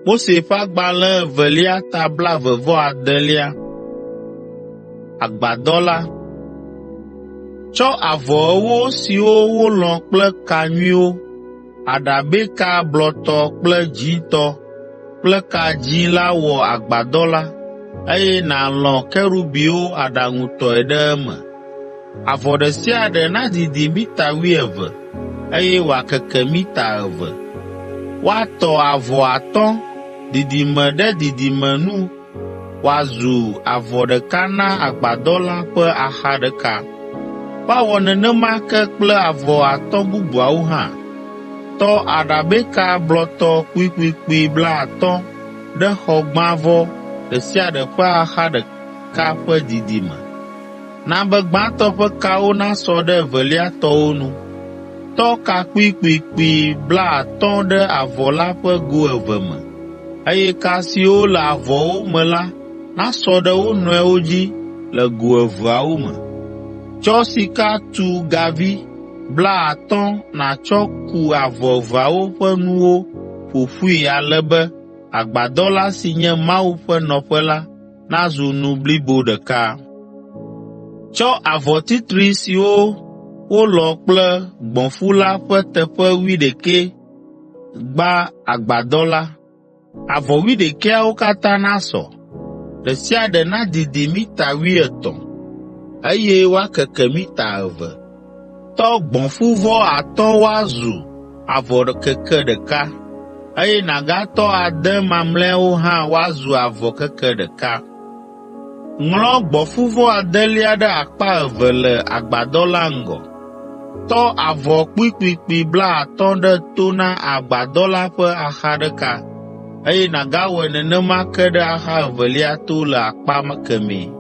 Mose ƒe agbalẽ evelia ta blaeve vɔ adelia. Agbadɔ la. Tsɔ avɔ ewo siwo wolɔ̃ kple ka nyuiwo, aɖabɛka blɔtɔ kple dzĩtɔ kple ka dzĩ la wɔ agbadɔ la, eye nàlɔ̃ kerubiwo aɖaŋutɔe ɖe eme. Avɔ ɖe sia ɖe nadidi mita wuieve, eye wòakeke mita eve. Woatɔ avɔ atɔ̃, didime ɖe didime nu wòazu avɔ ɖeka na agbadɔ la ƒe axa ɖeka. Woawɔ nenema ke kple avɔ atɔ̃ bubuawo hã. Tɔ aɖabɛka blɔtɔ kpuikpuikpui blaatɔ̃ ɖe xɔgbãvɔ ɖe sia ɖe ƒe axa ɖeka ƒe didime. Na be gbãtɔ ƒe kawo nasɔ ɖe evelia tɔwo nu. Tɔ ka kpuikpuikpui blaatɔ̃ ɖe avɔ la ƒe go eve me, eye ka siwo le avɔwo me la nasɔ ɖe wo nɔewo dzi le go eveawo me. Tsɔ sika tu gavi blaatɔ̃ nàtsɔ ku avɔ eveawo ƒe nuwo ƒo ƒui ale be agbadɔ la si nye Mawu ƒe nɔƒe la nazu nu blibo ɖeka. Tsɔ avɔ titri siwo wolɔ̃ kple gbɔ̃fu la ƒe teƒe wuiɖekɛ gba agbadɔ la. Avɔ wuiɖekɛawo katã nasɔ; ɖe sia ɖe nadidi mita wuietɔ̃, eye woakeke mita eve. Tɔ gbɔ̃fuvɔ atɔ̃ woazu avɔ keke ɖeka, eye nàgatɔ ade mamlɛawo hã woazu avɔ keke ɖeka. Ŋlɔ gbɔ̃fuvɔ adelia ɖe akpa eve le agbadɔ la ŋgɔ. Tɔ avɔ kpuikpuikpui blaatɔ̃ ɖe to na agbadɔ la ƒe axa ɖeka, eye nàgawɔe nenema ke ɖe axa evelia to le akpa kemɛ.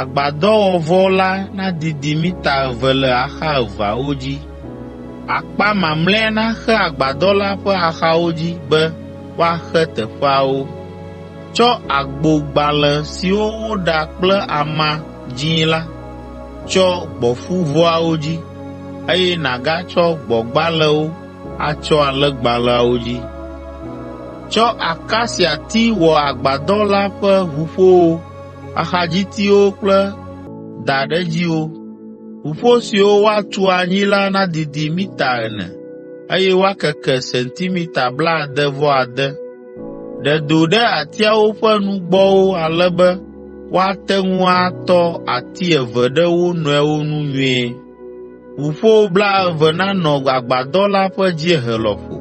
Agbadɔwɔvɔ la nadidi mita eve le axa eveawo dzi. Akpa mamlɛa naxe agbadɔ la ƒe axawo dzi be woaxe teƒeawo. Tsɔ agbogbalẽ siwo woɖa kple ama dzĩ la tsyɔ gbɔ̃fuvɔawo dzi, eye nàgatsɔ gbɔ̃gbalẽwo atsyɔ alẽgbalẽawo dzi. Tsɔ akasiati wɔ agbadɔ la ƒe ʋuƒowo axadzitiwo kple daɖedziwo. Ʋuƒo siwo woatu anyi la nadidi mita ene, eye woakeke sentimita blaade-vɔ-ade. Ɖe do ɖe atiawo ƒe nugbɔwo ale be woate ŋu atɔ ati eve ɖe wo nɔewo nu nyuie. Ʋuƒo blaeve nanɔ agbadɔ la ƒe dziehe lɔƒo.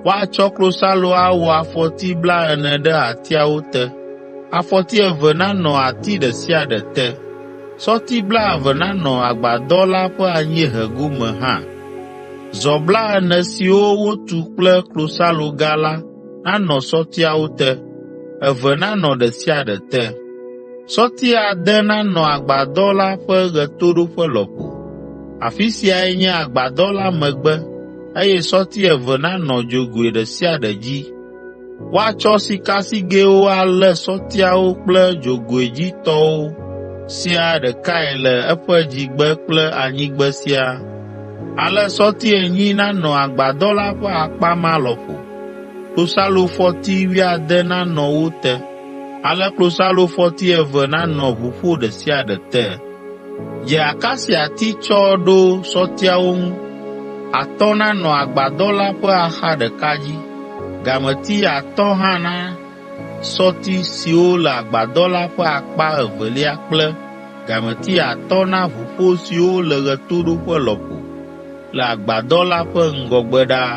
Woatsɔ klosalo awɔ afɔti blaene ɖe atiawo te, afɔti eve nanɔ ati ɖe sia ɖe te. Sɔti blaeve nanɔ agbadɔ la ƒe anyiehe gome hã. Zɔ blaene siwo wotu kple klosaloga la nanɔ sɔtiawo te, eve nanɔ ɖe sia ɖe te. Sɔti ade nanɔ agbadɔ la ƒe ɣetoɖoƒe lɔƒo. Afi siae nye agbadɔ la megbe eye sɔti eve nanɔ dzogoe ɖe sia ɖe dzi. Woatsɔ sikasigɛwo alé sɔtiawo kple dzogoe dzi tɔwo siaa ɖekae le eƒe dzigbe kple anyigbe siaa. Ale sɔti enyi nanɔ agbadɔ la ƒe akpa ma lɔƒo. Klosalofɔti wuiade nanɔ wo te, ale klosalofɔti eve nanɔ ʋuƒo ɖe sia ɖe te. Dze akasiati tsɔ ɖo sɔtiawo ŋu. Atɔ̃ nanɔ agbadɔ la ƒe axa ɖeka dzi. Gameti atɔ̃ hã na sɔti siwo le agbadɔ la ƒe akpa evelia kple gameti atɔ̃ na ʋuƒo siwo le ɣetoɖoƒe lɔƒo le agbadɔ la ƒe ŋgɔgbe ɖaa.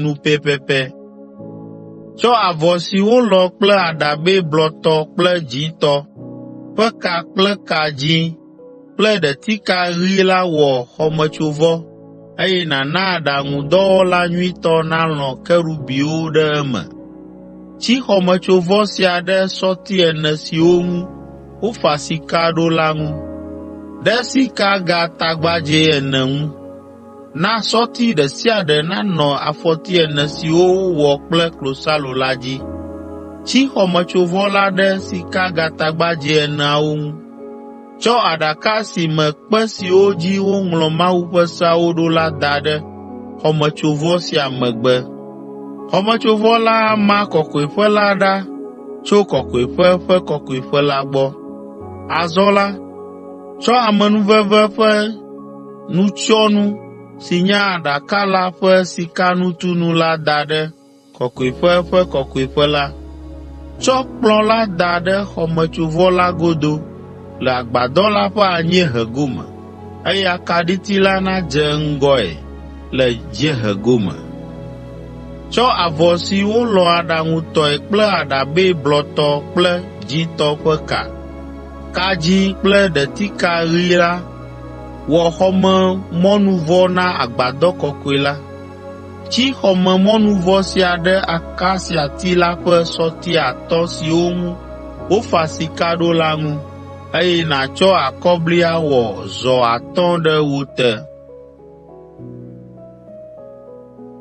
nu pɛpɛpɛ. Tsɔ avɔ si wolɔ̃ kple aɖabɛ blɔtɔ kple dzĩtɔ ƒe ka kple ka dzĩ kple ɖetika ɣi la wɔ xɔmetsovɔ, eye nàna aɖaŋudɔwɔla nyuitɔ nalɔ̃ kerubiwo ɖe eme. Tsi xɔmetsovɔ sia ɖe sɔti ene siwo ŋu wofa sika ɖo la ŋu, ɖe sikagatagbadzɛ ene ŋu. Na sɔti ɖe sia ɖe nanɔ afɔti ene siwo wowɔ kple klosalo la dzi. Tsi xɔmetsovɔ la ɖe sikagatagbadzɛ eneawo ŋu. Tsɔ aɖaka si me kpe siwo dzi woŋlɔ Mawu ƒe seawo ɖo la da ɖe xɔmetsovɔ sia megbe. Xɔmetsovɔ la ama Kɔkɔeƒe la ɖa tso Kɔkɔeƒe Ƒe Kɔkɔeƒe la gbɔ. Azɔ la, tsɔ amenuveve ƒe nutsyɔnu si nye Aɖaka la ƒe sikanutunu la da ɖe Kɔkɔeƒe Ƒe Kɔkɔeƒe la. Tsɔ kplɔ̃ la da ɖe xɔmetsovɔ la godo le agbadɔ la ƒe anyiehe gome, eye akaɖiti la nadze ŋgɔe le dziehe gome. Tsɔ avɔ si wolɔ̃ aɖaŋutɔe kple aɖabɛ blɔtɔ kple dzĩtɔ ƒe ka, ka dzĩ kple ɖetika ɣi la Wɔ xɔmemɔnuvɔ na agbadɔ kɔkɔe la. Tsi xɔmemɔnuvɔ sia ɖe akasiati la ƒe sɔti atɔ̃ siwo ŋu wofa sika ɖo la ŋu, eye nàtsɔ akɔbli awɔ zɔ atɔ̃ ɖe wo te.